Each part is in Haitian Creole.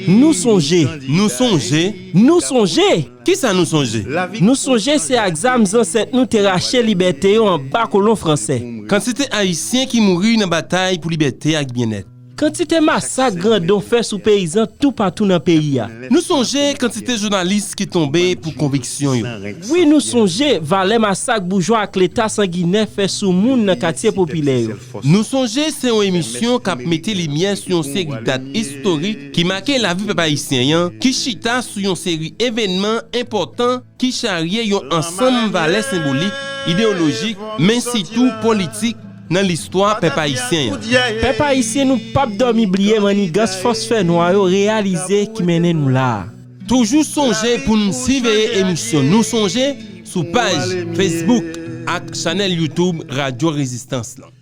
Nou sonje. Nou sonje. Nou sonje! Ki sa nou sonje? Nou sonje se ak zam zansèt nou te rache libète yo anba kolon franse. Kantite Ayisyen ki mouri nan batay pou libète ak byennèt. Kantite masak grandon fè sou peyizan toupatou nan peyi a. Nou sonje kantite jounalis ki tonbe pou konviksyon yo. Wi nou sonje valè masak boujwa ak Leta sanginè fè sou moun nan katye popilè yo. Nou sonje se yon emisyon k ap mete limyè sou yon seri dat istorik ki make lavi pèp ayisyen an, ki chita sou yon seri evènman enpòtan ki charye yon ansanm valè senbolik, ideyolojik, men sitou politik nan listwa pèp ayisyen an. Pèp ayisyen nou pap dòmi bliye mannigans fòs fè nwa yo reyalize ki mennen nou la a. Toujou sonje pou n siveye emisyon Nou Sonje sou paj Facebook ak chanèl YouTube Radyo Rezistans lan.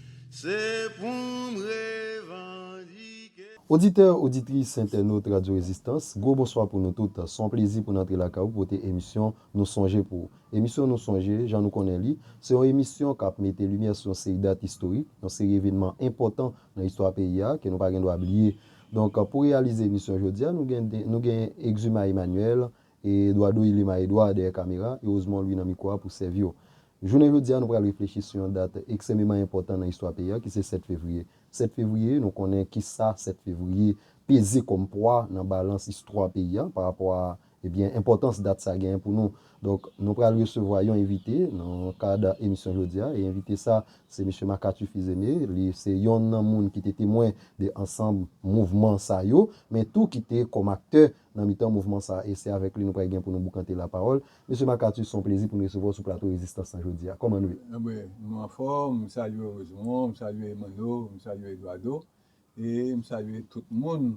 Oditè, oditris, entènot Radyo Rezistans, gwo bonswa pou nou tout. S on plezi pou n antre lakay ou pote emisyon Nou Sonje pou ou. Emisyon Nou Sonje, jan nou konnen li, se yon emisyon k ap mete limyè sou yon seri dat istorik, yon seri evenman enpòtan nan istwa peyi a, ke nou pa gen dwa bliye. Donk, pou reyalize emisyon jodi a, nou gen nou gen Exuma Emmanuel, Eduardo Ilima Edouard dèyè kamera, e Osmond Louis nan mikwo a pou sèvi w. Jounen jodi a, nou pral reflechi sou yon dat eksememan enpòtan nan istwa peyi a, ki se 7 fevriye. 7 fevriye, nou konnen ki sa 7 fevriye peze kòm pwa nan balans istwa peyi a, pa rapò a Ebyen, enpòtans dat sa genyen pou nou. Donk, nou pral resevwa yon envite nan kad emisyon jodi a, e envite sa, se Mesye Makatu Fils-Aimé, li se yonn nan moun ki te temwen de ansanm mouvman sa yo, men tou ki te kòm aktè nan mitan mouvman sa, e se avèk li nou pral gen pou nou boukante lapawòl. Mesye Makatu, se yon plezi pou n resevwa w sou plato Rezistans lan jodi a. Kòman nou ye? Anben, nou anfòm, m salye w Rosemon, m salye Manno, m salye Eduardo, E m salye tout moun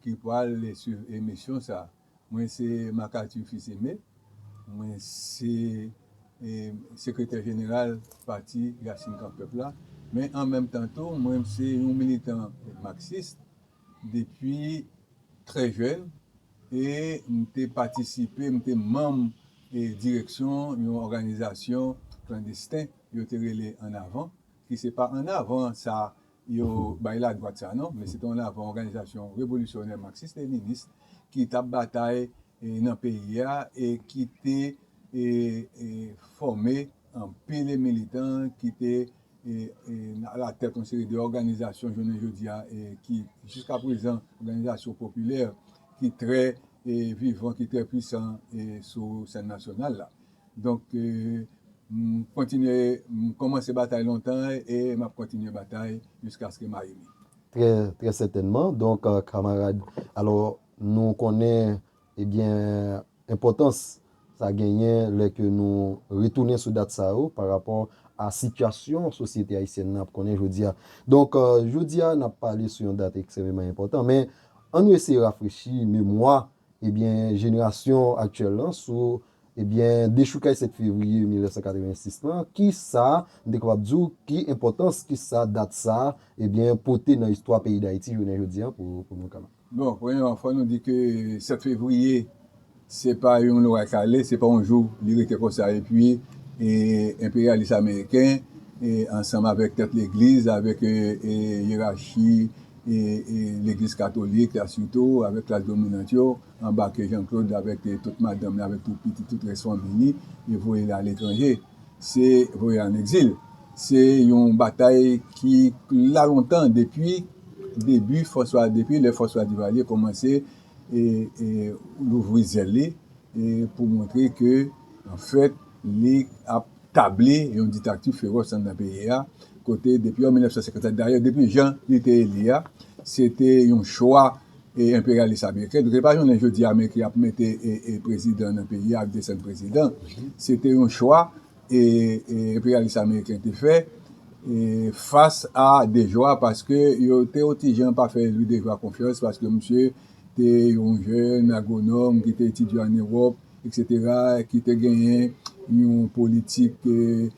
ki pwal swiv emisyon sa. Mwen se Macathur Fils Aimé, mwen se sekretè jeneral pati Rasin Kan Pèp la, men an menm tan tou mwen se yon militan Marxist depi trè jèn e m te patisipe, m te manm direksyon yon òganizasyon klandesten yo te rele An Avan ki se pa An Avan sa yo bay ladwat sa non, men se te yon lavan òganizasyon revolisyonè maksis-leninis ki t ap batay nan peyi a e ki te fòme anpil militan ki te alatèt yon seri de òganizasyon jounen jodi a ki jiska prezan òganizasyon popilè ki trè vivan, ki trè pwisan sou sèn nasyonal la. Donk m kontinye m komanse batay lontan e m ap kontinye batay jiskaske m ayibi. Trè trè sètènman donk kamarad alò nou konnen ebyen enpòtans sa genyen lè ke nou retounen sou dat sa yo pa rapò a sitiyasyon sosyete ayisyèn nan ap konnen jodi a. Donk jodi a n ap pale sou yon dat ekstrememan enpòtan men an nou eseye rafrechi memwa ebyen jenerasyon aktyèl lan sou Ebyen, dechoukay 7 fevriye 1986 lan, ki sa, m te kapab di w, ki enpòtans, ki sa dat sa, ebyen, pote nan istwa peyi Dayiti jounen jodi an pou nou ka. Bon, premyèman, fò nou di ke 7 fevriye, se pa yon lwa kale, se pa yon jou li rete konsa epi enperyalis ameriken ansanm avèk tèt legliz, avèk yerachi legliz katolik la sitou, avèk klas dominant yo, anbake Jean Claude avèk tout madanm li, avèk tout pitit, tout rès fanmi li, e voye li a letranje, se voye li an egzil. Se yon batay ki la lontan depi debi François, depi lè François Duvalier kòmanse louvri zèl li pou montre ke anfèt li ap tabli yon diktakti feròs anndan peyi a, kote depi an 1957, dayè depi jan li te eli a, se te yon chwa. e enperyalis ameriken nou te pa jounen jodi a men ki ap mete e prezidan nan peyi a ak desen prezidan se te yon chwa e enperyalis ameriken te fè e fas a dejwa paske yo te yon ti jan pa fè lwi dejwa konfyans paske misye te yon jèn agwonòm ki te etidye an ewòp eksetera ki te genyen yon politik e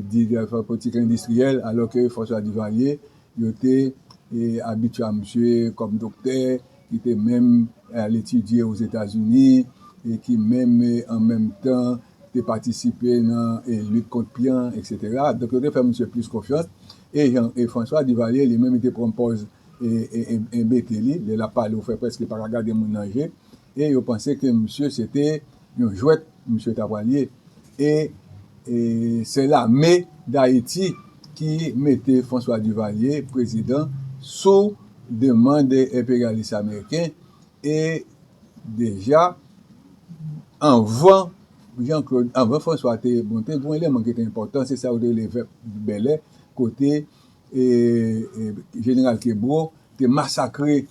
di fè politik endistriyèl alò ke fòs la divalye Yo te abitye a misye kòm doktè ki te menm al etidye Ozetazini e ki menm an menm tan te patisipe nan lit kont pyan, eksetera. Donk yo te fè misye plis konfyans. E jan e François Duvalier li menm li te pran pòz enbete li, lè l ap pale ou fè prèske pa ka gade moun nan je e yo panse ke misye se te Yon jwèt misye ta pral ye e se lame dayiti ki mete François Duvalier prezidan sou demand enperyalis ameriken e deja anvan Jean Claude anvan François te monte gon eleman ki te enpòtan se sa yo te rele vèp bèlè kote Jeneral Kebreau te masakre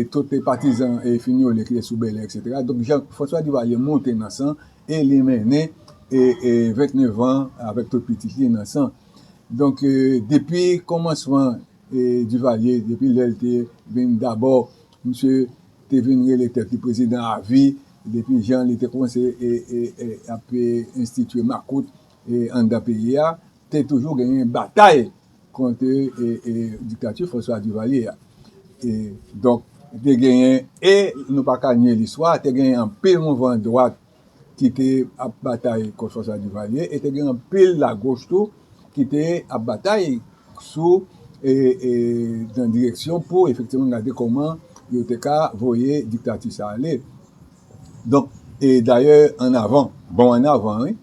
tout patizan Fignolé ki te sou Bèlè etc. Donk Jean François Duvalier monte nan San e li mennen 29 an avèk tout pitit li nan San. Donk depi kòmansman Duvalier, depi lè li te vin dabò misye te vin rele tèt li prezidan a vi, depi jan li te kòmanse ap enstitye makout anndan peyi a, Te toujou genyen batay kont diktati François Duvalier a. E donk te genyen e nou pa ka nye listwa a, te genyen anpil mouvman dwat ki te ap batay kont François Duvalier e te gen anpil lagoch tou ki te ap batay sou e nan direksyon pou efektivman gade kòman yo te ka voye diktati sa ale. Donk e dayè an avan, bon an avan wi,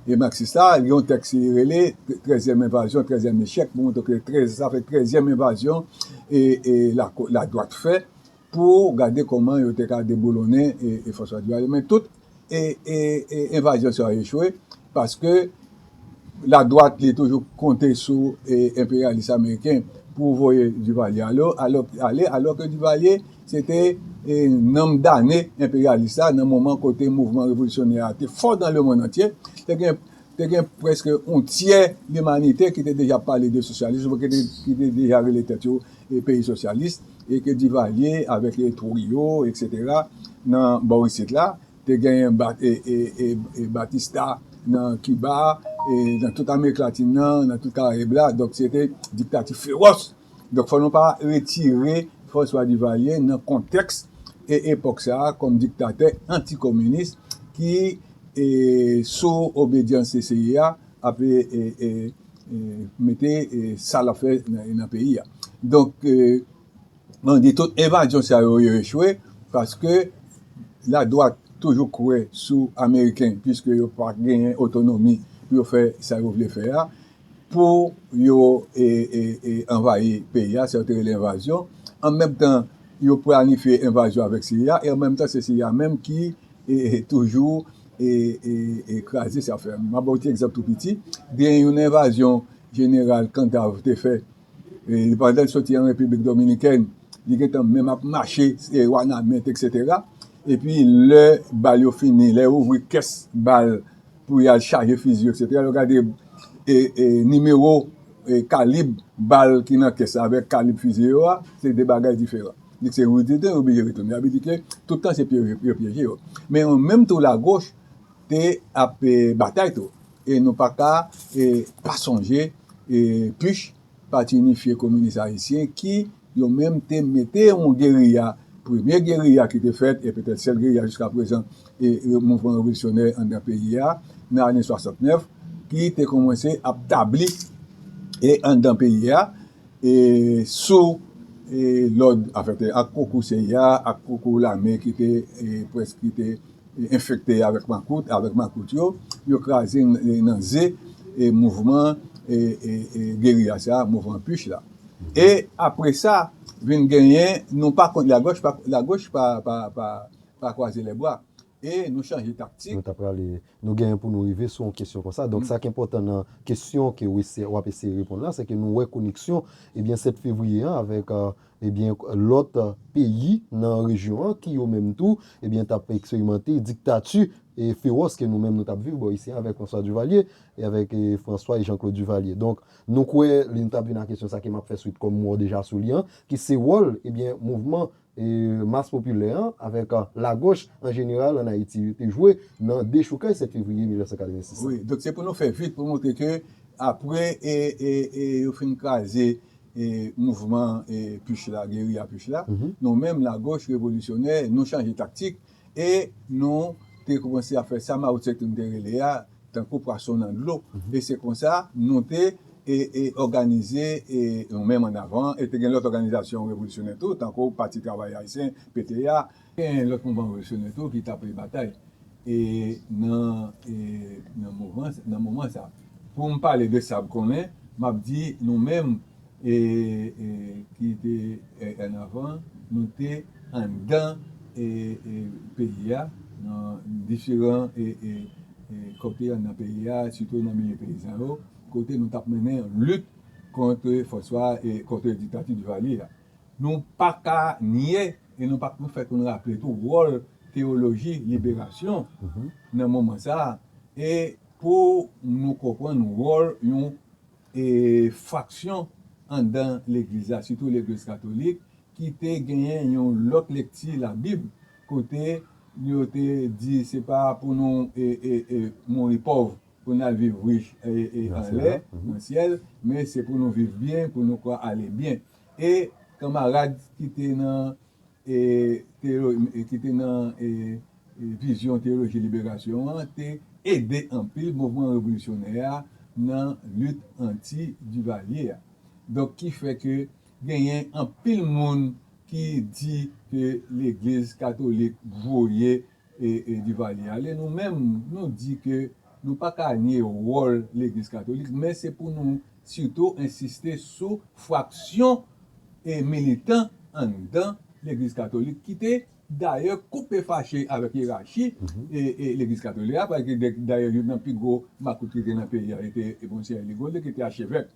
e maksis la gen yon tèks li rele trèzyèm envazyon, trèzyèm echèk pou montre ke trè sa fè trèzyèm envazyon e e lako ladwat fè pou gade kòman yo te ka deboulonnen e e François Duvalier men tout e e e envazyon sa yo echwe Paske ladwat li toujou konte sou enperyalis ameriken pou voye Divalye ale alò ke Divalye se te nanm dane enperyalis la nan moman kote mouvman revolisyonè a te fò dan lemonn antye. Te gen prèske yon tyè limanite ki te deja pale de sosyalism ou byen ki te deja rele tèt yo peyi sosyalis e ke Divalye avèk Trujillo eksetera nan bò isit la. Te genyen Batista nan Kiba, nan tout Amerik Latin nan, nan tout Karayib la, donk se te diktati fewòs. Donk fò nou pa retire François Duvalier nan kontèks epòk sa a kòm diktatè antikominis ki sou obedyans cia ap mete sa l ap fè nan peyi a. Donk Mwen di tout evazyon sa yo yo echwe paske la dwat toujou kwe sou ameriken piske yo pa genyen otonomi pou yo fè sa yo vle fè a pou yo anvayi peyi a sa yo te rele evazyon an menm tan yo planifye evazyon avek CIA e an menm tan se CIA menm ki toujou kraze sa yo fè a. M ap ba w ti egzanp tou piti gen yon evazyon jeneral kantav te fè. Li pandan l soti an Repiblik Dominikèn, li gentan menm ap mache Wanament eksetera. Epi lè bal yo fini, lè yo ouvri kès bal pou y al chaje fizi yo eksetera, lè yo gade nimewo, kalib bal ki nan kès la avèk kalib fizi yo a, se de bagay diferan. Li di se Rue Dede yo oblije retounen. Sa vle di ke tout tan se pyeje yo pyeje yo. Men an menm tou Lagoch te ap batay tou. E nou pa ka pa sonje PUCH, Pati Inifye Kominis Ayisyen, ki yo menm te mete yon geriya, premye geriya ki te fèt e petèt sèl geriya jiska prezan mouvman revolisyonè anndan peyi a nan ane 69, ki te kòmanse ap tabli anndan peyi a sou lòd, anfèt ak konkou seya, ak konkou lame ki te prèske. Enfekte avèk makout, avèk makout yo, yo kraze nan ze mouvman geriya sa a, mouvman puch la. E apre sa, vin genyen, nou pa konn, lagòch pa, lagòch pa, pa, pa, pa kwaze lèbra. E nou chanje taktik. Nou ta prale, nou genyen pou nou rive sou yon kesyon konsa. Donk sa k enpòtan nan kesyon ke w eseye, w ap eseye reponn la, se ke nou wè koneksyon, ebyen 7 fevriye an avèk. Ebyen lòt peyi nan rejyon an ki yo menm tou ebyen t ap eksperimante diktati fewòs ke nou menm nou t ap viv bò isi an avèk François Duvalier e avèk François e Jean-Claude Duvalier. Donk nou kwè li nou t ap vin a kesyon sa ke m ap fè swit kòm mò deja sou li an ki se wòl ebyen mouvman mas popilè an avèk lagòch an jeneral an Ayiti te jwe nan dechoukay 7 fevriye 1986 la. Wi, donk se pou nou fè vit pou montre ke apre e yo fin kraze e mouvman e puch la, geriya puch la, nou menm lagoch revolisyonè nou chanje taktik e nou te koumanse ap fè sa Mao Tse Tung te rele a tankou pwason nan dlo e se konsa nou te e e òganize e nou menm an avan e te gen lòt òganizasyon revolisyonè tou tankou Pati Travayè Ayisyen, pta. Gen lòt mouvman revolisyoner tou ki tape batay e nan e nan mouvman nan moman sa. Pou m pale de sa m konnen, m ap di nou menm e e ki te en avan, nou te anndan e e peyi a nan diferan e e e kote anndan peyi a, sitou nan milye peyizan yo, kote nou t ap mennen lit kont fòs wa e kont diktati Divalye a. Nou pa ka nye e nou pa fè pou nou raple tou wòl teyoloji liberasyon nan moman sa a e pou nou konprann wòl yon fraksyon anndan legliz la, sitou legliz katolik ki te genyen yon lòt lekti labib kote yo te di se pa pou nou mouri pòv. Pou n al viv rich anlè, nan syèl, men se pou nou viv byen, pou nou kwa ale byen. E kanmarad ki te nan ki te nan vizyon teyoloji liberasyon an te ede anpil mouvman revolisyonè a nan lit anti Divalye a. Donk ki fè ke genyen anpil moun ki di ke legliz katolik voye Duvalier ale nou menm nou di ke nou pa ka nye wòl legliz katolik men se pou nou sitou ensiste sou fraksyon militan anndan legliz katolik ki te dayè koupe fache avèk yerachi legliz katolik la paske dayè youn nan pi gwo makout ki te nan peyi a te Monseyè Ligonde ki te achevèk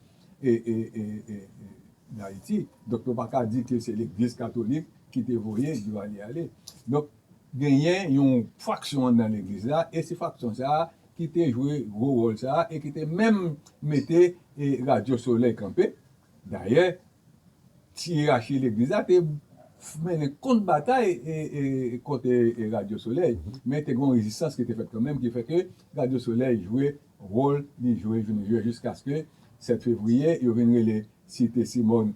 Dayiti donk nou pa ka di ke se legliz katolik ki te voye Duvalier ale donk Genyen yon faksyon anndan legliz la e se faksyon sa a ki te jwe gwo wòl sa a e ki te menm mete Radyo Solèy kanpe. Dayè, ti yeyachi legliz la te mennen kont batay kont Radyo Solèy, men te gen yon rezistans ki te fèt kanmenm ki fè ke Radyo Solèy jwe wòl li jwe jounen jodi a jiskaske 7 fevriye yo vin rele Site Simòn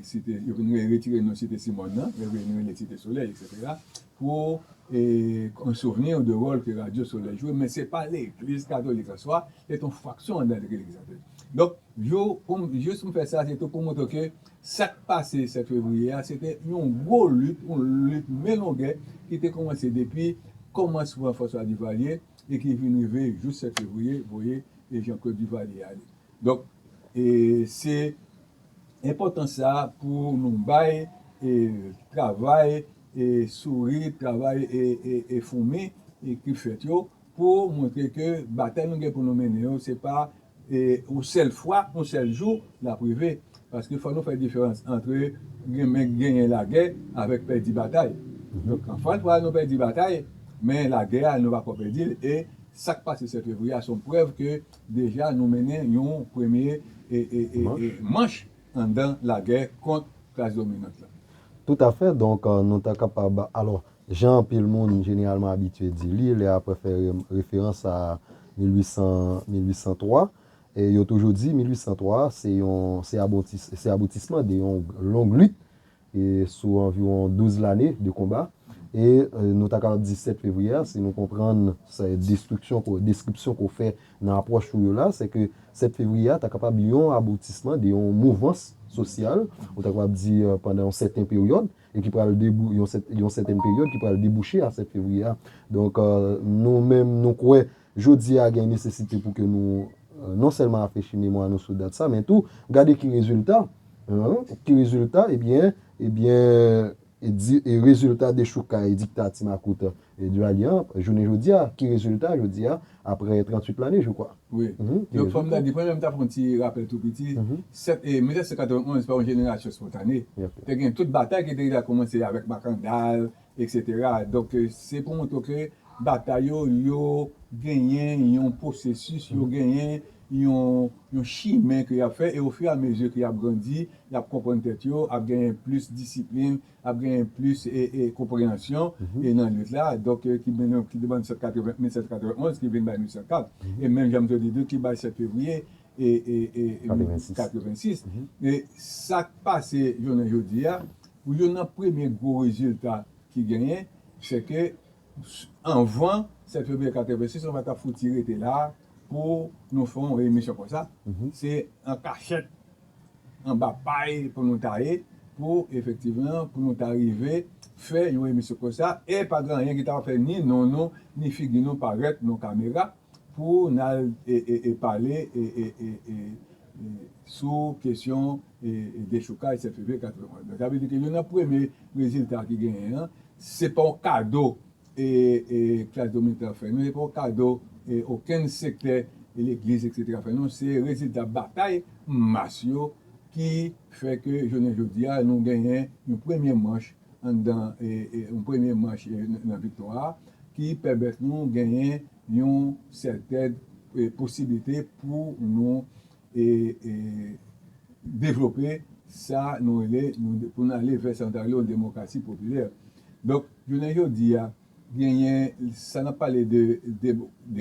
site yo vin retire non site Simòn nan yo vin rele site Solèy eksetera pou an souvni de wòl ke radyo Solèy jwe men se pa legliz katolik answa se te yon fraksyon anndan legliz la donk yo jis m fè sa se tou pou montre ke sa k pase 7 fevriye a se te yon gwo lit yon lit men longè ki te kòmanse depi kòmansman François Duvalier e ki vin rive jous 7 fevriye voye e Jean Claude Duvalier ale Donk, se enpòtans sa a pou nou bay travay souri, travay foumi ki fèt yo pou montre ke batay nou gen pou nou mennen yo se pa yon sèl fwa, yon sèl jou l ap rive. Paske fò nou fè diferans antre renmen genyen lagè avèk pèdi batay. Donk, anfan fwa nou pèdi batay, men lagè a nou pa ko pèdi l e sa k pase 7 fevriye a se yon prèv ke Deja nou mennen yon premye manch anndan lagè kont klas dominant la. Tout a fè, donk nou ta kapab, alò, jan anpil moun jeneralman abitye di li, lè apre fè referans a 1803, yo toujou di 1803 a se aboutisman de yon long lit e sou anviwon 12 lane de konba, e nou ta kapab di 7 fevriye a, si nou konprann destriksyon ke w, deskripsyon ke w fè nan apwòch ou yo la, se ke 7 fevriye a ta kapab yon aboutisman de yon mouvans sosyal, ou ta kapab di pandan yon sèten peryòd, e ki pral debou, yon sèten peryòd ki pral debouche a 7 fevriye a. Donk, nou menm nou kwè Jodi a, gen nesesite pou ke nou non sèlman rafrechi memwa nou sou dat sa, men tou, gade ki rezilta, ki rezilta, ebyen, ebyen, e rezilta dechoukay diktati makout Duvalier an, jounen jodi a, ki rezilta jodi a, apre 38 lane, jou kwa. Wi. Donk, fò m ta di, premye m ta fè yon ti rapèl tou piti, 7 e, 1991 pa yon jenerasyon spontane. Te gen tout batay ki te deja koumanse avèk Makandal, Etc donk se pou montre w ke batay yo yo genyen yon pwosesis yo genyen yon chimen ke y ap fè e ofiramezi ke y ap grandi y ap konprann tèt yo ap genyen plis disiplin ap genyen plis konpreyansyon e nan lit la donk ki ban nou 1791 ki vin bay 1804 e menm jan m te di tou ki bay 7 fevriye 1886 e sa k pase jounen jodi a Pou youn nan premye gwo rezilta ki genyen, se ke anvan 7 fevriye 86, nou pa t ap fouti rete la a pou nou fè yon emisyon konsa. Se an kachèt, anba pay pou nou ta ye, pou efektivman, pou nou ta rive fè yon emisyon konsa, e pa gen anyen ki t ap fè ni non nou, ni figi nou parèt nan yon kamera. Pou nal pale sou kesyon dechoukaj 7 fevriye 81. Sa vle di ke youn nan premye rezilta ki genyen an, se pa yon kado klas dominan an fè nou, se pa yon kado okenn sektè legliz eksetera fè nou, se rezilta batay mas yo ki fè ke jounen jodi a nou genyen yon premye manch anndan yon premye manch nan viktwa a ki pèmèt nou genyen yon sèten posiblite pou nou devlope sa nou rele pou nou ale vè sa nou ta rele yon demokrasi popilè. Donk, jounen jodi a, genyen sa n ap pale de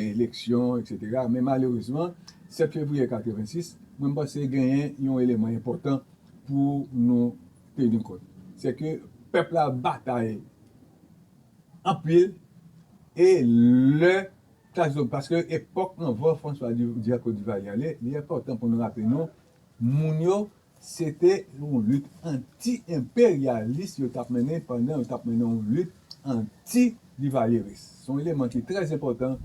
eleksyon eksetera men malerezman 7 fevriye 86, mwen panse genyen yon eleman enpòtan pou nou. te gen kont. Se ke pèp la batay anpil e lè klas domi, paske epòk anvan François Duvalier Cote d'Ivoire y ale, li enpòtan pou nou raple nou, moun yo se te yon lit anti enperyalis yo t ap mennen pandan yo t ap mennen yon lit anti Divalyeris. Se yon eleman ki trè enpòtan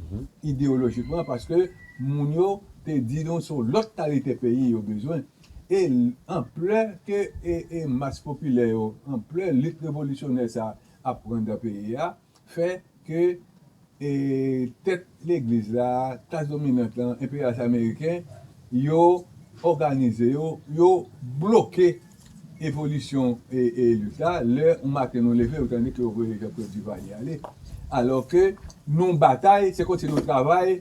ideyolojikman paske moun yo te di nou se yon lòt kalite peyi yo bezwen. E anplè ke e mas popilè yo, anplè lit revolisyonè sa ap pran dan peyi a, fè ke e tèt legliz la, klas dominant la, enperyalis ameriken, yo òganize yo, yo bloke evolisyon e lit la, lè yon maten nou leve ou tande ke yo voye Jean Claude Duvalier ale, alò ke nou batay, se kòmsi nou travay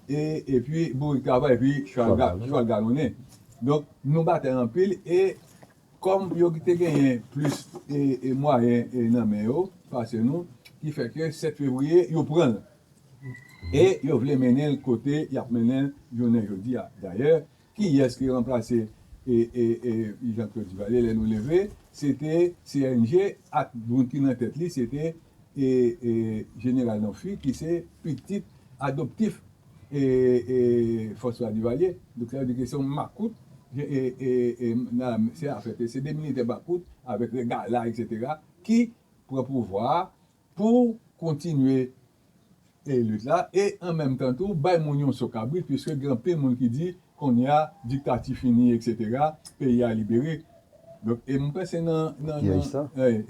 e epi bourik travay epi chwal chwal galonnen donk nou batay anpil e kòm yo te genyen plis e mwayen nan men yo pase nou ki fè ke 7 fevriye yo pran l e yo vle mennen l kote y ap mennen l jounen jodi a dayè. Kiyès ki ranplase Jean Claude Duvalier lè nou leve? Se te CNG ak moun ki nan tèt li se te Jeneral Nanphy ki se pitit adoptif François Duvalier. Donk sa vle di ke se yon makout se afè ke se de militè makout avèk règ gala eksetera ki pran pouvwa a pou kontinye e lit la e an menm tan tou bay moun yon so kabrit puiske gen anpil moun ki di kounye a diktati fini etc peyi a libere donk e m kwè se nan nan nan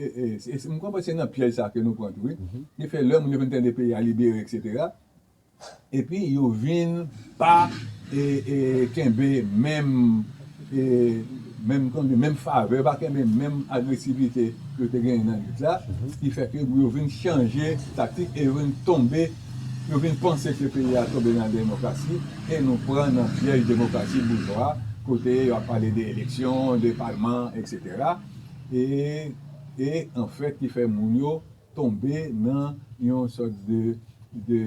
e m kwè se nan pyèj sa ke nou pran tou wi ki fè lè moun yo vin tande peyi a libere etc Epi yo vin pa kenbe menm favè, yo pa kenbe menm agresivite ke yo te genyen nan lit la, ki fè ke yo vin chanje taktik e yo vin tonbe, yo vin panse ke peyi a tonbe nan demokrasi e nou pran nan pyèj demokrasi boujwa kote yo ap pale de eleksyon, de palman, etc. E anfèt ki fè moun yo. tonbe nan yon sòt de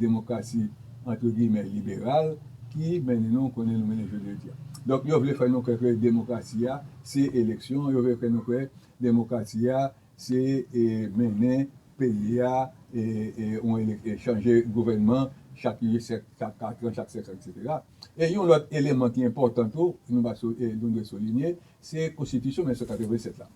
demokrasi antre giyimè liberal ki mennen nou konnen nou mennen jounen jodi a. Donk yo vle fè nou kwè ke demokrasi a se eleksyon, yo vle fè nou kwè demokrasi a se mennen peyi a e chanje gouvènman chak 8, chak 4 an, chak 5 an eksetera. E yon lòt eleman ki enpòtan tou nou dwe soulinye se konstitisyon 1987 la.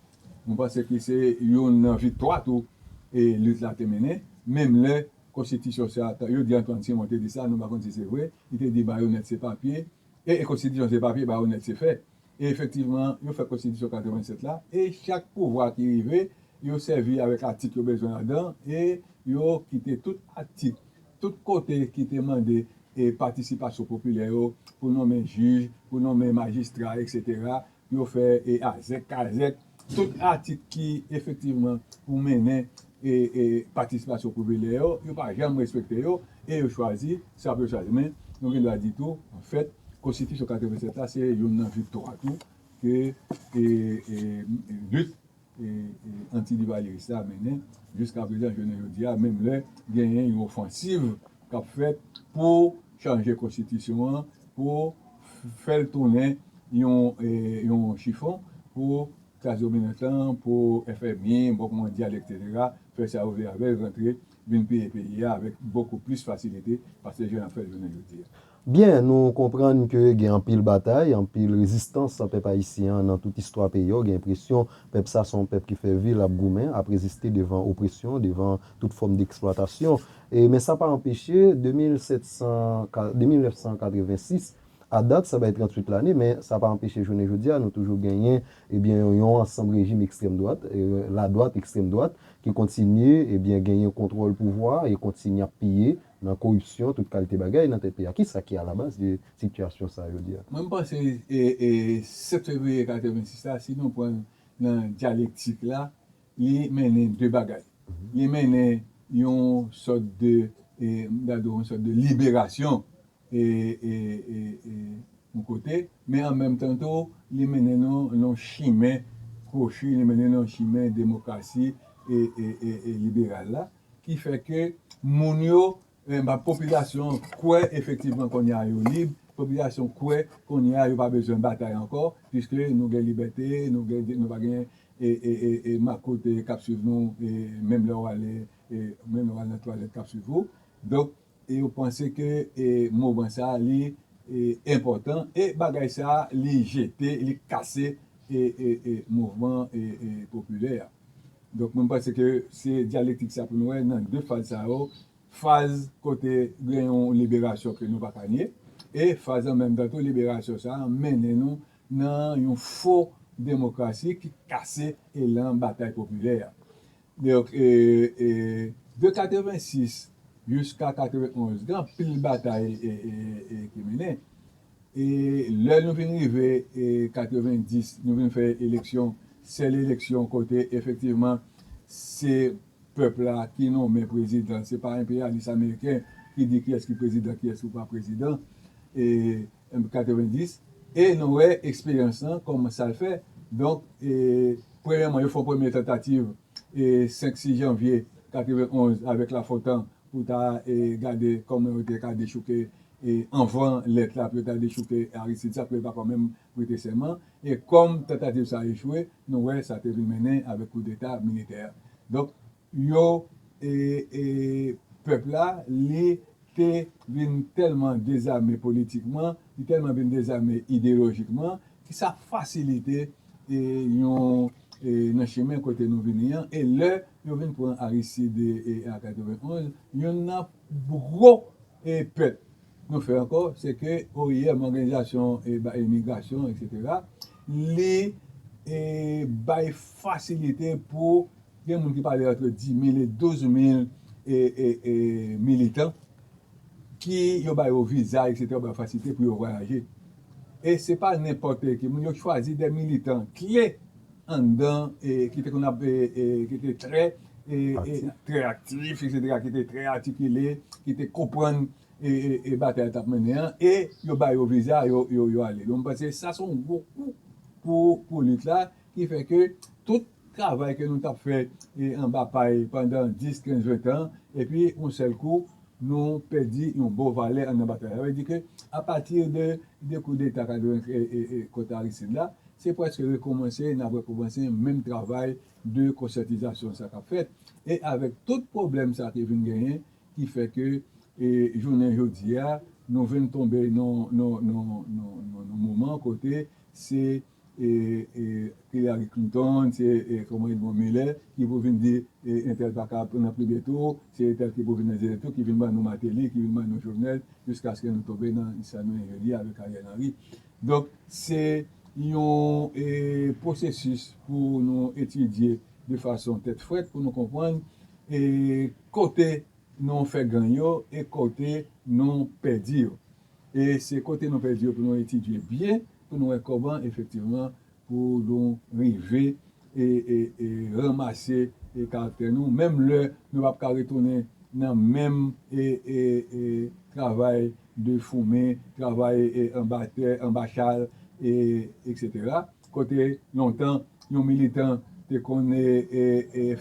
Nou panse ki se youn nan viktwa tou e lit la te mennen, menm lè konstitisyon sa a, yo di Antwàn Simon te di sa, nou pa konn si se vre, li te di bayonèt se papye, e e konstitisyon se papye, bayonèt se fè. E efektivman, yo fè konstitisyon 87 la, e chak pouvwa ki rive, yo sèvi avèk atik yo bezwen ladan, e yo kite tout atik, tout kote ki te mande e patisipasyon popilè yo pou nonmen jij, pou nonmen majistra eksetera, Yo fè e azèk kazèk tout atik ki efektivman pou mennen e e patisipasyon popilè yo, yo pa janm respekte yo e yo chwazi sa pou yo chwazi. Men nou gen dwa di tou an fèt konstitisyon 87 la se youn nan viktwa tou ke e e lit anti-livalyeris la mennen jiskaprezan jounen jodi a, menm lè genyen yon ofansiv k ap fèt pou chanje konstitisyon an, pou fè l tounen yon chifon pou klas dominant lan, pou FMI, Bank Mondyal, eksetera, fè sa yo vle avè l, rantre vin peye peyi a avèk bokou plis fasilite pase jan y ap fè l jounen jodi a. Byen, nou konprann ke gen anpil batay, anpil rezistans pèp ayisyen an nan tout istwa peyi a, w gen enpresyon pèp sa se yon pèp ki fè vi l ap goumen, ap reziste devan opresyon, devan tout fòm deksplwatasyon. E men sa pa anpeche, de 1700, de 1986 a dat, sa bay 38 lane, men sa pa anpeche jounen jodi a nou toujou genyen ebyen yon ansanm rejim ekstrèm dwat, ladwat ekstrèm dwat, ki kontinye ebyen genyen kontwòl pouvwa e kontinye ap piye nan koripsyon, tout kalte bagay nan tèt peyi a. Kisa ki alabaz de sitiyasyon sa a jodi a? Mwen m panse 7 fevriye 86 la, si nou pran l nan dyalektik la, li mennen 2 bagay. Li mennen yon sòt de, m ta di w yon sòt de liberasyon yon kote, men an menm tan tou, li mennen nou nan yon chimen kwochi, li mennen nou nan chimen demokrasi e liberal la. ki fè ke moun yo, popilasyon kwè efektivman kounye a yo lib, popilasyon kwè kounye a yo pa bezwen batay ankò, piske nou gen libète, nou pa gen makout k ap swiv nou, menm lè w ale nan twalèt k ap swiv ou. E yo panse ke moman sa a li enpòtan e bagay sa a li jete, li kase mouvman popilè a. Donk mwen panse ke se dyalektik sa pou nou wè nan 2 faz sa yo, faz kote gen yon liberasyon ke nou pa ka nye e faz an menm tan tou liberasyon sa a mennen nou nan yon fo demokrasi ki kase elan batay popilè a. Newyork, e. E. De 86 jiska 91, gen anpil batay e. E. Ki mennen. E. Lè nou vin rive e. 90, nou vin fè eleksyon, sèl eleksyon kote efektivman se pèp la ki nonmen prezidan, se pa enpeyalis ameriken ki di kiyès ki prezidan, kiyès ki pa prezidan. E. Emp 90 e nou wè eksperyans lan kòman sal fè donk e premyèman yo fon premye tantativ e 5 6 janvye 91 avèk Lafontan pou ta e gade kòman yo te ka dechouke e anvan lèt la pou yo ta dechouke Aristide sa pou yo ta pa menm prete sèman e kòm tantativ sa echwe nou wè sa te vin mennen avèk koudeta militè a donk yo e e pèp la li te vin tèlman dezame politikman li tèlman vin dezame ideyolojikman ki sa fasilite e yon e nan chimen kote nou vini an e lè yo vin pran Aristide e an 91 youn nan pou gwo e pèt nou fè ankò se ke oim òganizasyon e ba imigrasyon eksetera li e bay fasilite pou Gen moun ki pale antre 10,000 e 12,000 militan ki yo ba yo viza eksetera, yo ba yo fasilite pou yo vwayaje. E se pa nenpòt ki moun, yo chwazi de militan kle anndan ki te konn ap, ki te trè aktif eksetera, ki te trè atikile, ki te konprann batay yo t ap mennen an e yo ba yo viza, yo ale. Donk mwen panse sa se yon gwo kou pou lit la Ki fè ke tout travay ke nou tap fè anba pay pandan 10, 15, 20 tan, epi yon sèl kou nou pèdi yon bon valè anndan batay la. Sa vle di ke apati de 2 kou deta 95 kont Aristide la, se prèske rekomanse, nap rekomanse menm travay de konsyantizasyon sa kap fèt. E avèk tout pwoblèm sa ki vin genyen, ki fè ke jounen jodi a, nou vin tonbe nan yon moman kote se. Hillary Clinton se kòman li bon milè ki pou vin di entèl paka nan premye tou se entèl ki pou vin nan dezyèm tou ki vin ban nou Martelly ki vin ban nou Jovenel jiskaske nou tonbe nan sa nou ye jodi a avèk Ariel Henry donk se yon pwosesis pou nou etidye de fason tèt frèt pou nou konprann kote nou fè gang yo e kote nou pèdi yo. E se kote nou pèdi yo pou nou etidye byen pou nou wè kòman efektivman pou nou rive ranmase karaktè nou menm lè nou pap ka retounen nan menm travay de foumen, travay anba tè, anba chal, eksetera. Kote lontan yon militan te konn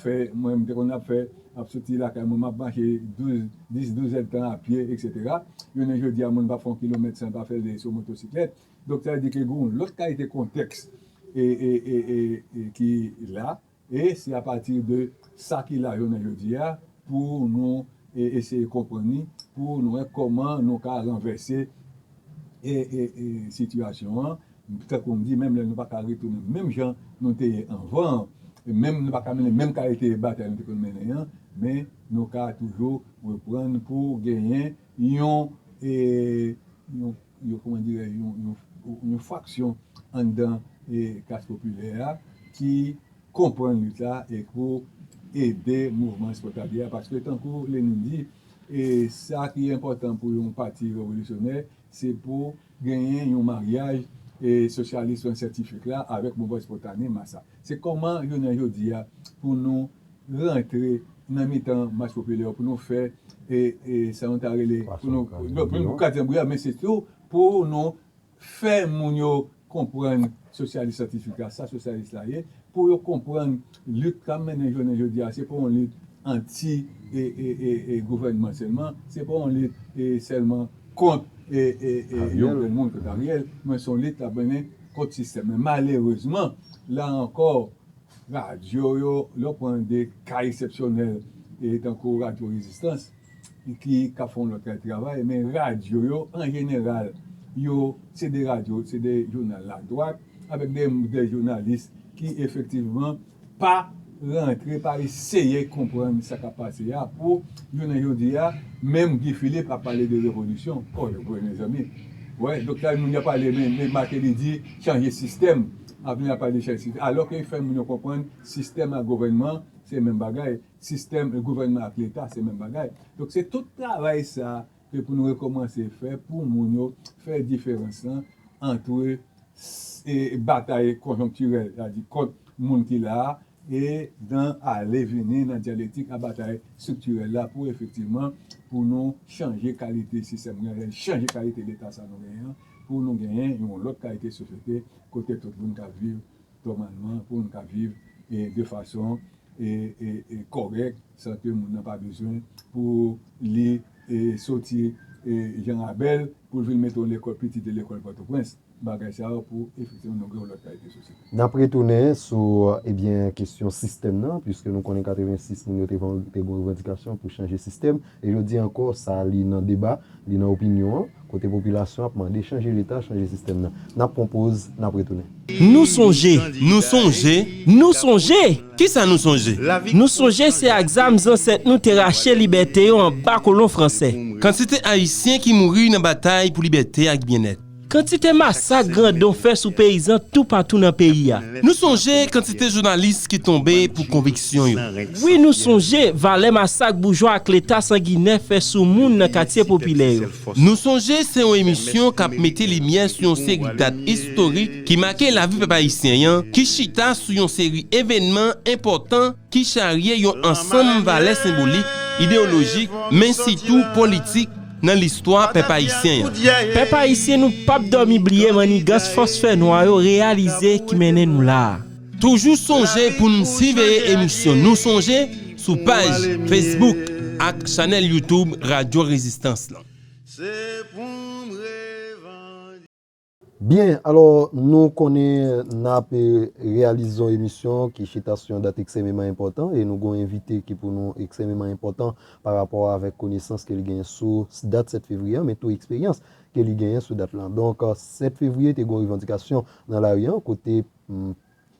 fè mwen m te konn ap fè, ap soti lakay mwen m ap mache 12, 10, 12 èd tan a pye eksetera. Jounen jodi a moun pa fè yon kilomèt san pa fè l sou motosiklèt. Donk sa vle di ke gen yon lòt kalite kontèks ki la. E se apati de sa ki la jounen jodi a pou nou eseye konprann li, pou nou wè kòman nou ka ranvèse sitiyasyon an. Tankou m di, menm lè nou pa ka retounen menm jan nou te ye anvan an, menm nou pa ka mennen menm kalite batay nou te konn mennen an, men nou ka toujou reprann pou genyen yon. yo kòman dirè yon fraksyon anndan klas popilè a ki konprann lit la e pou ede mouvman espòtalye a paske tankou Lenin di e sa ki enpòtan pou yon pati revolisyonè se pou genyen yon maryaj e sosyalism syantifik la avèk mouvman espòtane mas la se kòman jounen jodi a pou nou rantre nan mitan mas popilè yo pou nou fè sa nou ta rele pou nou kraze zanbri a men se tou pou nou fè moun yo konprann sosyalis santifik la sa sosyalis la ye pou yo konprann lit k ap mennen jounen jodi a se pa yon lit anti gouvènman sèlman se pa yon lit sèlman kont yon grenn moun kont Ariel men se yon lit k ap mennen kont sistèm nan malerezman la ankò Radyo yo, lè w pran de ka eksepsyonèl tankou radyo rezistans ki k ap fè yon lòt travay, men radyo yo an jeneral yo se de radyo, se de jounal ladwat avèk de jounalis ki efektivman pa rantre, pa eseye konprann sa k ap pase a pou jounen jodi a menm Guy Philippe ap pale de revolisyon oh mezanmi, wè donk sa moun yo ap pale men Martelly di chanje sistèm. Avni a pa deja eskriti. Alò ke fè moun yo konprann sistèm ak gouvènman se menm bagay, sistèm e gouvènman ak leta se menm bagay. Donk se tout travay sa ke pou nou rekomanse fè pou moun yo fè diferans lan antre batay konjonktirèl, sa vle di kont moun ki la a e nan ale vini nan dyalektik a batay striktirèl la pou efektivman pou nou chanje kalite sistèm nou genyen, chanje kalite leta sa nou genyen an pou nou genyen yon lòt kalite sosyete kote tout moun ka viv tòmalman, pou moun ka viv e de fason e e kòrèk san ke moun nan pa bezwen pou li e soti e Jan Rabèl pou l vin mete yon lekòl piti de lekòl Pòtoprens. bagay sa yo pou efektivman nou gen yon lòt kalite sosyete. N ap retounen sou ebyen kesyon sistèm nan, puiske nou konnen 86 moun yo te gen revandikasyon pou chanje sistèm, e jodi ankò sa li nan deba, li nan opinyon an, kote popilasyon ap mande chanje leta, chanje sistèm nan. N ap pran poz, n ap retounen. Nou sonje, nou sonje, nou sonje! Ki sa nou sonje? Nou sonje se ak zam zansèt nou te rache libète yo anba kolon franse. Kantite Ayisyen ki mouri nan batay pou libète ak byennèt. Kantite masak grandon fè sou peyizan toupatou nan peyi a. Nou sonje kantite jounalis ki tonbe pou konviksyon yo. Wi nou sonje valè masak boujwa ak leta sanginè fè sou moun nan katye popilè yo. Nou sonje se yon emisyon k ap mete limyè sou yon seri dat istorik ki make lavi pèp ayisyen an, ki chita sou yon seri evènman enpòtan ki charye yon ansanm valè senbolik, ideyolojik, men sitou politik, nan listwa pèp ayisyen an. Pèp ayisyen nou pap dòmi bliye mannigans fòs fè nwa yo reyalize ki mennen nou la a. Toujou sonje pou n siveye emisyon Nou Sonje sou paj Facebook ak chanèl YouTube Radyo Rezistans lan. Byen, alò nou konnen n ap reyalize yon emisyon ki chita sou yon dat eksememan enpòtan e nou gen yon envite ki pou nou eksememan enpòtan pa rapò avèk konesans ke li genyen sou dat 7 fevriye an men tou eksperyans ke li genyen sou dat lan. Donk 7 fevriye te gen yon revandikasyon nan lari an kote.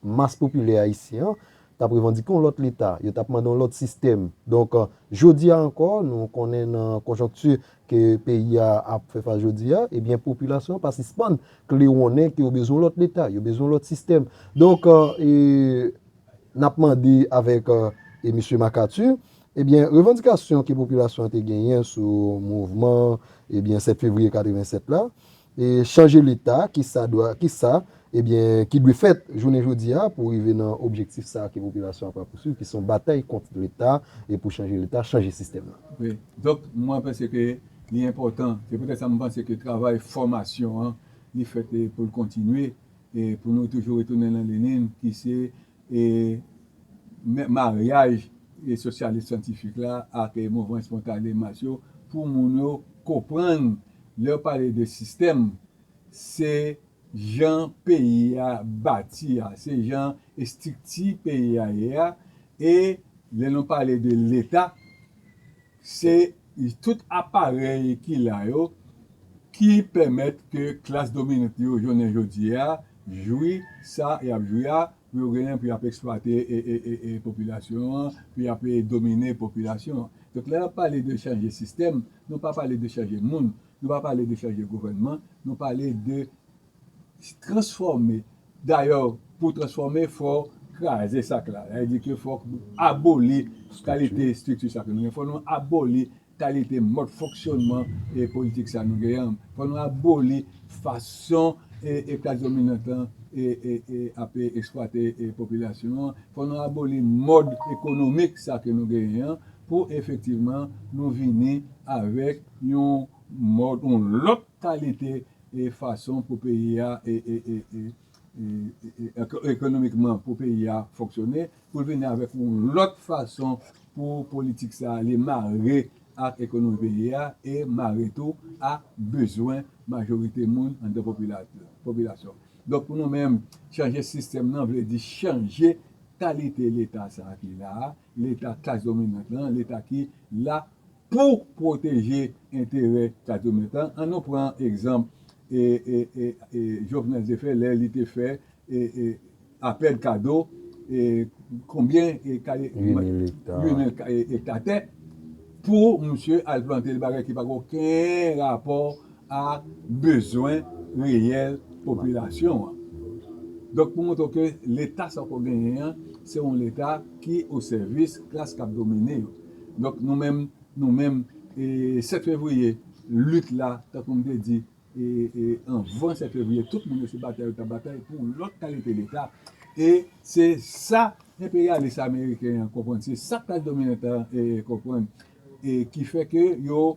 mas popilè ayisyen an t ap revandike yon lòt leta, yo t ap mande yon lòt sistèm. Donk, jodi a ankò, nou konnen nan konjonkti ke peyi a ap fè fas jodi a, ebyen popilasyon an pa sispann klewonnen ke yo bezwen yon lòt leta, yo bezwen yon lòt sistèm. Donk, n ap mande avèk Misye Makati, ebyen revandikasyon ke popilasyon an te genyen sou mouvman ebyen 7 fevriye 87 la, E chanje leta, ki sa dwa, ki sa, ebyen, ki dwe fèt jounen jodi a pou rive nan objektif sa a ke popilasyon an pral pousuiv, ki se yon batay kont leta e pou chanje leta, chanje sistèm nan. Wi. Donk, mwen panse ke li enpòtan, se poutèt sa m panse ke travay fòmasyon an li fèt pou l kontinye e pou nou toujou retounen nan lenin ki se E men maryaj e sosyalis syantifik la ak e mouvman espontane mas yo pou moun yo konprann lè yo pale de sistèm se jan peyi a bati a, se jan estrikti peyi a ye a e lè nou pale de leta, Se tout aparèy ki la yo ki pèmèt ke klas dominant yo jounen jodi a jwi sa y ap jwi a pou yo genyen pou y ap eksplwate popilasyon an, pou y ap domine popilasyon an. Donk lè n ap pale de chanje sistèm, nou pa pale de chanje moun, nou pa pale de chanje gouvènman, nou pale de transfòme dayè pou transfòme fò kraze sak la sa vle di ke fòk nou aboli kalite estrikti sa ke nou gen fòk nou aboli kalite mòd fonksyònman e politik sa nou gen an fòk nou aboli fason e klas dominant lan e ape esplwate e popilasyon an fòk nou aboli mòd ekonomik sa ke nou genyen an pou efektivman nou vini avèk yon mòd yon lòt kalite e fason pou peyi a ekonomikman pou peyi a fonksyone pou l vini avèk yon lòt fason pou politik sa a li mare ak ekonomi peyi a e mare tou a bezwen majorite moun anndan popilasyon donk pou nou menm chanje sistèm nan vle di chanje kalite leta sa a ki la a leta klas dominant lan leta ki la Pou pwoteje enterè Cathomèt lan, an nou pran egzanp Jovenel te fè lè li te fè APED kado konbyen kare, 8000 ekta tè pou misye al plante l bagay ki pa gen oken rapò a bezwen reyèl popilasyon an. Donk pou montre w ke leta sa w konn genyen an se yon leta ki osèvis klas k ap domine yo. Donk nou menm, nou menm, 7 fevriye, lit la, tankou m te di, anvan 7 fevriye, tout moun yo se batay yo t ap batay pou yon lòt kalite Leta. E se sa enperyalis ameriken an konprann, se sa klas dominan an konprann, ki fè ke yo.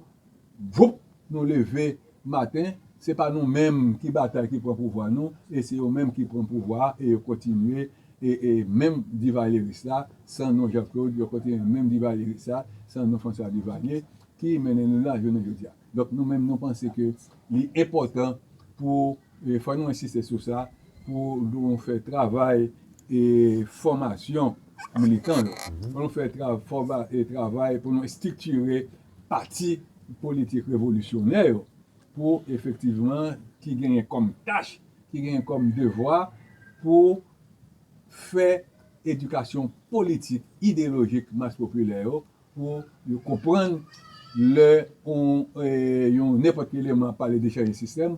Voup nou leve maten se pa nou menm ki batay ki pran pouvwa nou e se yo menm ki pran pouvwa a e yo kontinye e menm Divalyeris la san nou Jean Claude yo kontinye menm Divalyeris la san nou François Duvalier ki mennen nou la jounen jodi a. Donk nou menm nou panse ke li enpòtan pou e fò nou ensiste sou sa pou nou fè travay e fòmasyon militan yo pou nou fè travay pou nou estriktire pati politik revolisyonè yo pou efektivman ki genyen kòm tach, ki genyen kòm devwa pou fè edikasyon politik, ideyolojik mas popilè yo pou yo konprann lè yon nenpòt ki eleman ap pale de chanje sistèm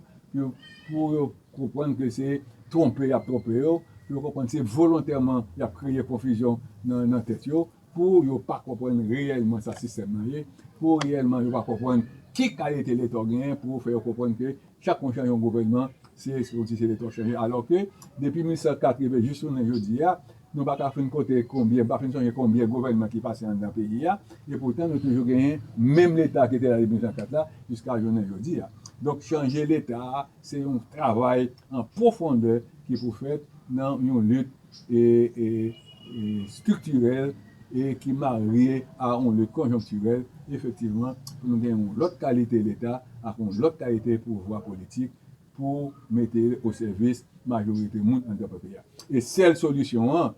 pou yo konprann ke se twonpe y ap twonpe yo, pou yo konprann se volontèman y ap kreye konfizyon nan tèt yo Pou yo pa konprann reyèlman sa sistèm nan ye, pou reyèlman yo pa konprann ki kalite leta w genyen pou fè yo konprann ke chak fwa w chanje yon gouvènman se kòmsi se leta w chanje alò ke depi 1880 jis jounen jodi a nou pa ka fin konte konbyen, nou pa fin sonje konbyen gouvènman ki pase anndan peyi a e poutan nou toujou genyen menm leta ki te la depi 1804 la jiska jounen jodi a. Donk chanje leta a se yon travay an pwofondè ki pou fèt nan yon lit estriktirèl e ki marye a yon lit konjonktirèl, efektivman, pou nou gen yon lòt kalite Leta ak yon lòt kalite pouvwa politik pou mete osèvis majorite moun anndan pepe a. E sèl solisyon an,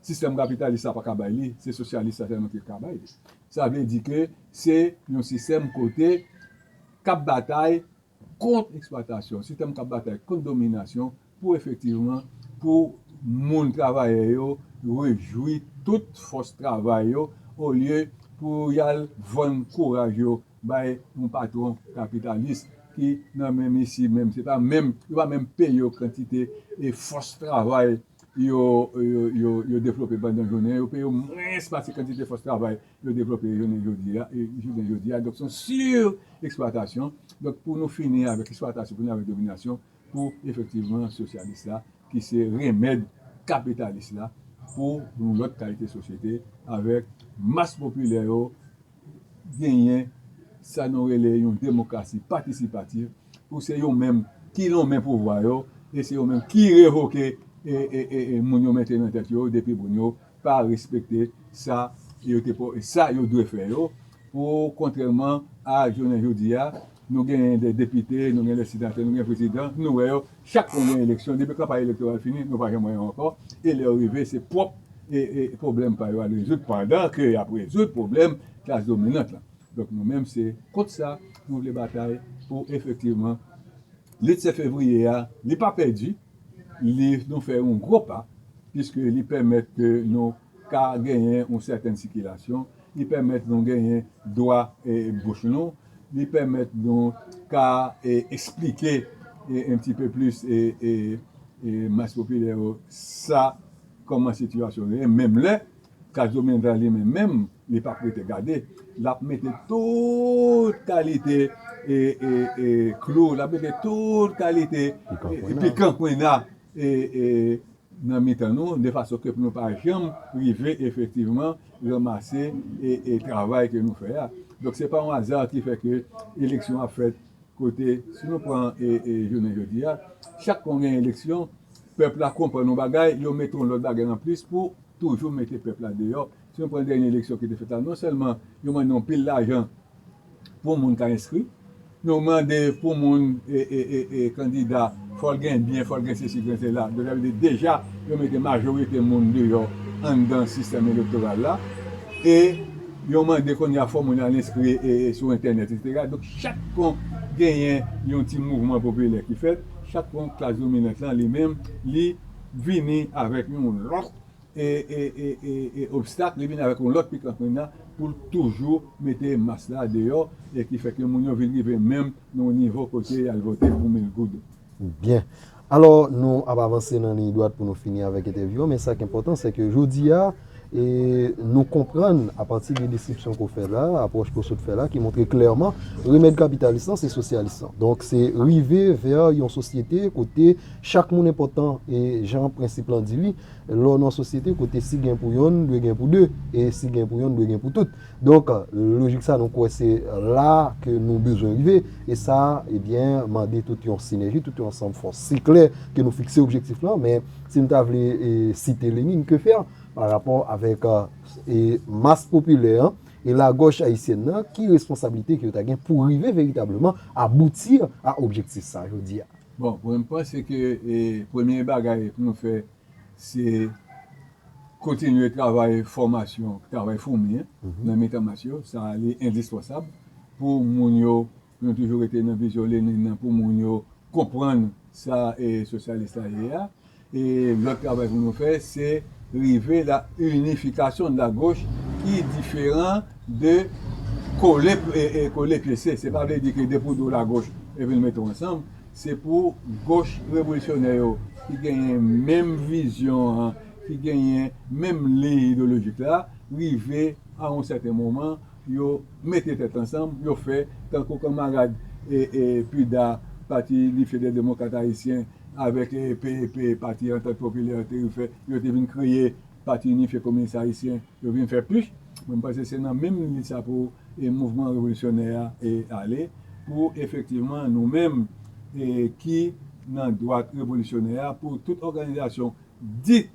sistèm kapitalis la pa ka bay li, se sosyalis la sèlman ki ka bay li. Sa vle di ke se yon sistèm kote k ap batay kont eksplwatasyon, sistèm kap batay kont dominasyon pou efektivman pou moun travayè yo rejwi tout fòs travay yo olye pou yal vann kouraj yo bay yon patwon kapitalis ki nan menm isi menm se pa menm yo pa menm peye yo kantite e fòs travay yo yo devlope pandan jounen an, yo peye yo mwens pase kantite fòs travay yo devlope jounen jodi a, jounen jodi a, donk se yon sur-eksplwatasyon, donk pou nou fini avèk eksplwatasyon, fini avèk dominasyon, pou efektivman sosyalis la, ki se remèd kapitalis la, pou yon lòt kalite sosyete, avèk mas popilè yo genyen sa nou rele yon demokrasi patisipativ pou se yo menm ki lonmen pouvwa yo e se yo menm ki revoke moun yo mete nan tèt yo depi moun yo pa respekte sa yo te sa yo dwe fè yo pou kontrèman a jounen jodi a. Nou gen de depite, nou gen de senatè, nou gen prezidan, nou wè yo, chak fwa gen eleksyon, depi kanpay elektoral fini, nou pa janm wè yo ankò, e lè yo rive, se pwòp pwoblèm pa yo y al rezoud, pandan ke y ap rezoud pwoblèm klas dominant lan. Donk nou menm se kont sa nou vle batay pou efektivman lit 7 fevriye a, li pa pèdi, li nou fè yon gwo pa, piske li pèmèt ke nou. ka genyen yon sèten sikilasyon, li pèmèt nou genyen dwa bouch nou, li pèmèt nou ka esplike yon ti pe plis mas popilè yo sa kòman sitiyasyon nou ye, menm lè Case Dominica li menm menm li pap rete gade, l ap mete tout kalite klou, l ap mete tout kalite pikan kwenna. nan mitan nou de fason ke pou nou pa janm rive efektivman ranmase e travay ke nou fè a. Donk se pa yon aza ki fè ke eleksyon ap fèt kote si nou pran jounen jodi a chak kon gen eleksyon pèp la konprann yon bagay yo mete yon lòt bagay anplis pou toujou mete pèp la deyò. Si nou pran dènye eleksyon ki te fèt la non sèlman yo mande yon pil lajan Pou moun ka enskri, nou mande pou moun kandida fò l gen byen, fò l gen sesi, gen sela. Donk sa vle di deja yo mete majorite moun deyò anndan sistèm elektoral la. E yo mande kounye a fò moun al enskri sou entènèt eksetera. Donk chak kon genyen yon ti mouvman popilè ki fèt, chak kon klas dominant lan li menm li vini avèk yon lòt. e obstak li vin avèk yon lòt pikan kwenn nan poul toujou mete mas la deyò e ki fè ke moun yo vin rive menm nan yon nivo kote yal vote pou mil goud. Byen. Alò nou ap avanse nan liy dwat pou nou fini avèk entèvyou an men sak enpòtan se ke jodi a e nou konprann a pati de deskripsyon ke w fè la, apwòch ke w sot fè la ki montre klèman remèd kapitalis lan se sosyalis lan. Donk se rive vè yon sosyete kote chak moun enpòtan e jan prensip lan di li. Lè w nan yon sosyete kote si gen pou yonn, dwe gen pou de, e si gen pou yonn, dwe gen pou tout. Donk, lojik sa nou kwè se la ke nou bezwen rive, e sa, ebyen, mande tout yon sinèji, tout yon ansanm fòs. Se klè ke nou fikse objektif lan, men si nou ta vle site Lenine, que faire pa rapò avèk mas popilè an e lagòch ayisyèn nan, ki responsablite ke yo ta gen pou rive veritableman aboutir a objektif sa jodi a? Bon mwen panse ke premye bagay pou nou fè se kontinye travay fòmasyon, travay foumi nan mitan mas yo, sa li endispansab pou moun yo, pou nou toujou rete nan vizyon Lenine nan, pou moun yo konprann sa sosyalis la ye a. Lòt travay pou nou fè se rive la inifikasyon la goch ki diferan de kole e kole pyese. Se pa vle di ke depi w di w la goch epi nou mete w ansanm. Se pou goch revolisyonè yo ki genyen menm vizyon an, ki genyen menm liy ideyolojik la, rive a yon sèten moman yo mete tèt ansanm, yo fè tankou kanmarad Puda, Pati Lifye dè Demokrat Ayisyen, Avèk PEP, Pati Antant Popilè, te refè, yo te vin kreye Pati Inifye Kominis Ayisyen, yo vin fè pich. Mwen panse se nan menm lit sa pou mouvman revolisyonè a ale, pou efektivman nou menm ki nan dwat revolisyonè a, pou tout òganizasyon dit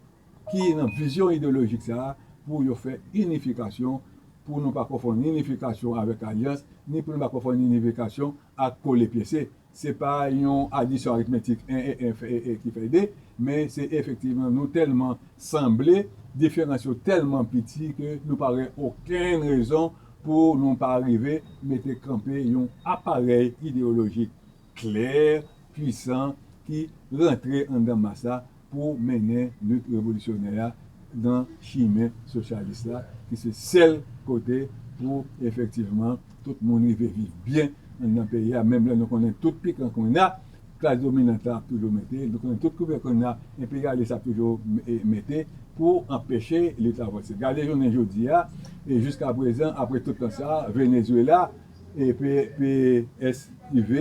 ki nan vizyon ideyolojik sa a, pou yo fè inifikasyon, pou nou pa konfonn inifikasyon avèk alyans, ni pou nou pa konfonn inifikasyon ak kole pyese. Se pa yon adisyon aritmetik 1 e 1 fè 1 e ki fè 2, men se efektivman nou tèlman sanble, diferans yo tèlman piti ke nou pa wè okenn rezon pou nou pa rive mete kanpe yon aparèy ideyolojik klè, pwisan ki rantre anndan mas la pou mennen lit revolisyonè a nan chimen sosyalis la ki se sèl kote pou efektivman tout moun rive viv byen anndan peyi a menm lè nou konnen tout pikan konnya klas dominant la ap toujou mete, nou konnen tout kouvè konnya enperyalis la ap toujou mete pou anpeche lit la vanse. Gade jounen jodi a e jiskaprezan apre tout tan sa a Venezuela e PSUV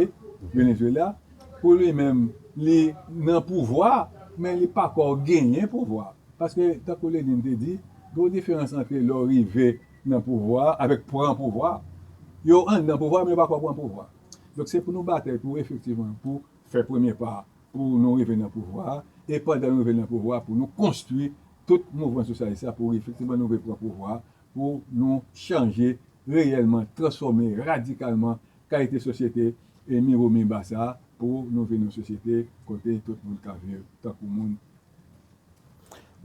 Venezuela. Pou li menm, li nan pouvwa, men li pa ko genyen pouvwa. Paske, tankou Lenin te di, gen yon diferans antre lè w rive nan pouvwa avèk pran pouvwa. Yo anndan pouvwa, men yo pa ko pran pouvwa. Donk, se pou nou batay pou efektivman pou fè premye pa a, pou nou rive nan pouvwa a, e pandan nou rive nan pouvwa a, pou nou konstwi tout mouvman sosyalis la pou efektivman nou rive pran pouvwa a, pou nou chanje reyèlman, transfòme radikalman Kalite sosyete e miwo miba sa pou nou vin yon sosyete kote tout moun ka viv tankou moun.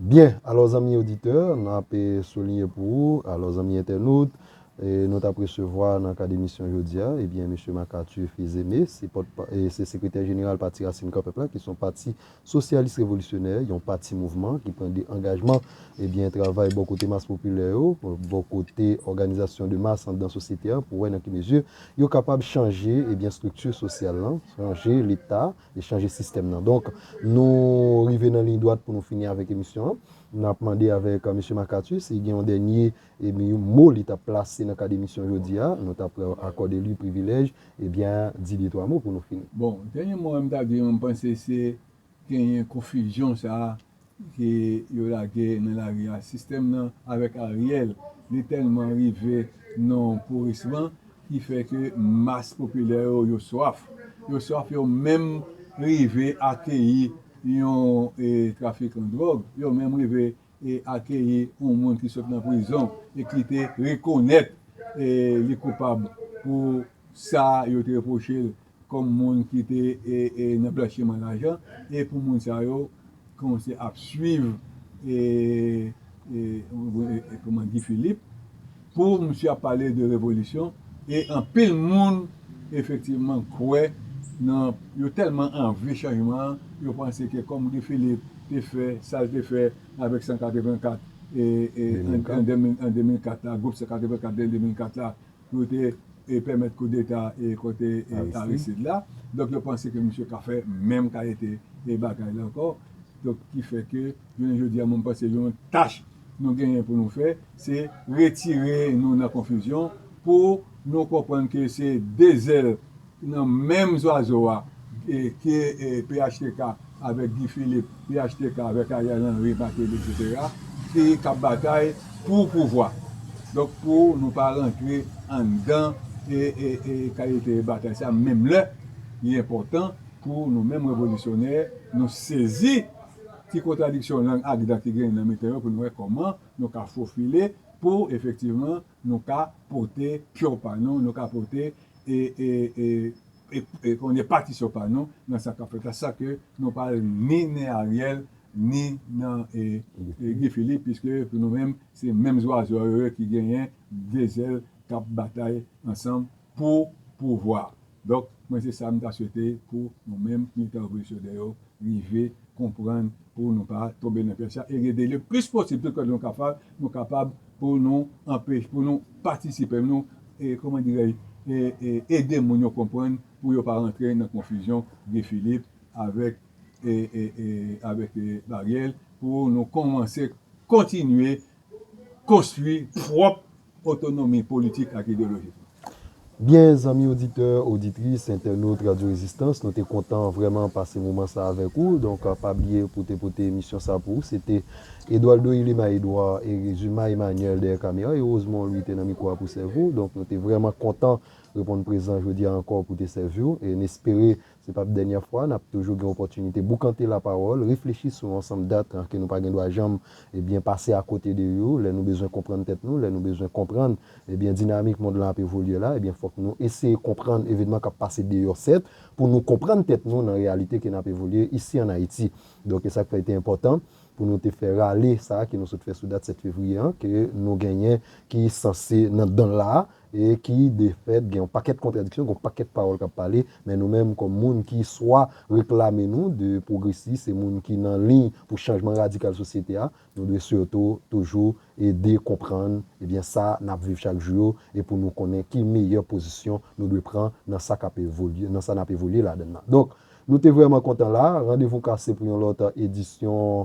Byen, alò zanmi oditè, n ap souliyen pou ou, alò zanmi entènot, nou t ap resevwa nan kad emisyon jodi a, ebyen Mesye Marc Arthur Fils-Aimé, se pòt, se Sekretè Jeneral Pati Rasin Kò Pèp la ki s on pati Sosyalis Revolisyonè, yon pati mouvman ki pran de angajman, ebyen travay bò kote mas popilè yo, bò kote òganizasyon de mas anndan sosyete a pou wè nan ki mezi yo kapab chanje ebyen estrikti sosyal lan, chanje leta e chanje sistèm nan. Donk, nou rive nan liy dwat pou nou fini avèk emisyon an. N ap mande avèk Mesye Makati si gen yon dènye E mi yon mo li ta plase nan kad emisyon jodi a, nou ta pran akòde li privilèj, e byen di de twa mo pou nou fini. Bon, dènye mo a m ta di an m panse se genyen konfizyon sa a ke yo lage nan lari a. Sistèm nan avèk Ariel, li tèlman rive nan yon pourisman ki fè ke mas popilè yo, yo swaf. Yo swaf yo menm rive akeyi yon trafikan dwòg, yo menm rive. e akeyi yon moun ki sot nan prizon e ki te rekonèt li koupab pou sa yo te repwoche l kòm moun ki te nan blanchiman lajan e pou moun sa yo kòmanse ap swiv Guy Philippe. Pou misye ap pale de revolisyon e anpil moun efektivman kwè nan yo tèlman anvi chanjman an yo panse ke kòm Guy Philippe te fè sa l te fè avèk 184 an 2004 la gwoup 184 an 2004 la pou yo te pèmèt koudeta kont Aristide la donk yo panse ke misye ka fè menm kalite bagay la ankò donk ki fè ke Jounen jodi a mwen panse yon tach nou genyen pou nou fè se retire nou nan konfizyon pou nou konprann ke se 2 zèl nan menm zwazo a ki phtk avèk Guy Philippe, phtk avèk Ariel Henry, Martelly etc. Ki k ap batay pou pouvwa. Donk pou nou pa rantre anndan kalite batay sa menm lè li enpòtan pou nou menm revolisyonè nou sezi. Ki kontradiksyon lang ak dan ki genyen nan mitan yo pou nou wè kòman nou ka fofile pou efektivman nou ka pote pyo pa nou, nou ka pote e kòman di patisyon pa nou nan sa k ap fèt la san ke nou pa al ni nen Ariel ni nan Guy Philippe piske pou nou menm se menm zwazo yo ki genyen de zèl k ap batay ansanm. Pou pouvwa. Donk mwen se sa m ta swete pou nou menm militan revolisyoner yo rive konprann pou nou pa tonbe nan pyèj sa e rede le plis posib tout kote nou ka fè nou kapab pou nou anpeche pou nou patisipe pou nou e kòman dirèj e e ede moun yo konprann pou yo pa rantre nan konfizyon Guy Philippe avèk e e e avèk e Ariel pou nou kòmanse kontinye konstwi pwòp otonomi politik ak ideyolojik nou. Byen zanmi oditè, oditris, entènot Radyo Rezistans, nou te kontan vrèman pase moman sa avèk ou. Donk pa bliye pou te pote emisyon sa pou ou. Se te Edwaldo Yilema Edouard, Erezima Emanyèl dèyè kamera, e Rozmon Lwi te nan mikwo a pou sèvi ou. Donk nou te vrèman kontan reponn prezan jodi a ankò pou te sèvi ou. E n espere. Se pap dènyè fwa, n ap toujou gen opòtinite boukante lapawòl, reflechi sou yon ansanm dat ke nou pa gen dwa janm, ebyen, pase akote de yo. Lè nou bezwen konprann tèt nou, lè nou bezwen konprann, ebyen, dinamik mond lan ap evolye la, ebyen, fòk nou eseye konprann evenman k ap pase deyò sèt, pou nou konprann tèt nou nan reyalite ke n ap evolye isi an Ayiti. Donk, e sa k fè li te enpòtan pou nou te fè rale sa a ke nou sot fè sou dat 7 fevriye an, ke nou genyen ki sanse nan dan l la a, E ki de fèt gen yon pakèt kontradiksyon, gen yon pakèt pawòl k ap pale, men nou menm kòm moun ki swa reklame nou de pwogresis e moun ki nan liy pou chanjman radikal sosyete a, nou dwe sitou toujou ede konprann ebyen sa n ap viv chak jou yo e pou nou konnen ki meyè pozisyon nou dwe pran nan sa k ap evolye, nan sa n ap evolye ladann nan. Donk, nou te vrèman kontan la a. Randevou kase pou yon lòt edisyon